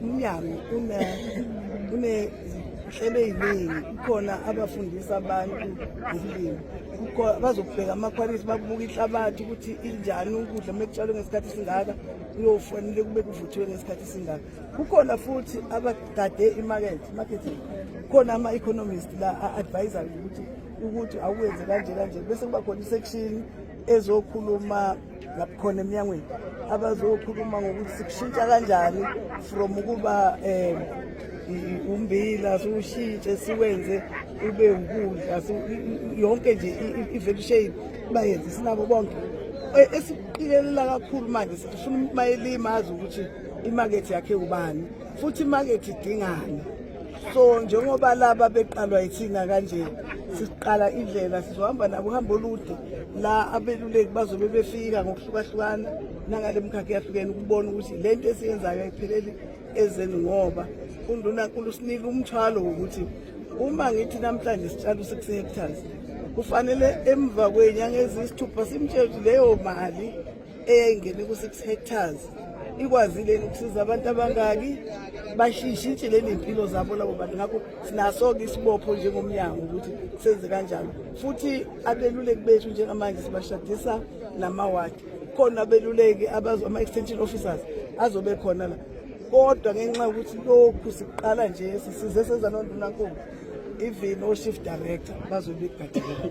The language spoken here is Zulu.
umnyango unezinhlelo eziningi kukhona abafundisa abantu ngezilimi bazokubheka amakhwalithi babuka ihlabathi ukuthi injani ukudla uma kutshalwe ngesikhathi singaka kuyofanele kube kuvuthiwe ngesikhathi singaka kukhona futhi abagade imakethe marketing kukhona ama-economist la a-advisayo ukuthi ukuthi awuwenze kanje kanje bese kuba khona isection ezokhuluma ngabukhona emnyangweni abazokhuluma ngokuthi sikushintsha kanjani from ukuba um umbila siwushintshe siwenze ube ukudla yonke nje i-value shade bayenze sinabo bonke e, esiqikelela kakhulu manje sifuna umayelima azi ukuthi imakethi yakhe ubani futhi imakethi idingani so njengoba laba beqalwa yithina kanje siqala indlela sizohamba nabo uhambo olude la abeluleki bazobe befika ngokuhlukahlukana nangale mkhakha eyahlukene ukubona ukuthi le nto esiyenzayo ayipheleli ezeni ngoba undunankulu usinika umthwalo wokuthi uma ngithi namhlanje sitshala u-six hectares kufanele emva kwenyanga eziyisithupha simtshele ukuthi leyo mali eyayingene ku-six hectares ikwazile ukusiza abantu abangaki bashishintshele ney'mpilo zabo labo bantu ngakho sinaso-ke isibopho njengomnyango ukuthi senze kanjalo futhi abeluleki bethu njengamanje sibashadisa namawadi khona abeluleki ama-extension officers azobe khona la kodwa ngenxa yokuthi lokhu siqala nje sisize senza nondunankulu even o-shift director bazobe begadile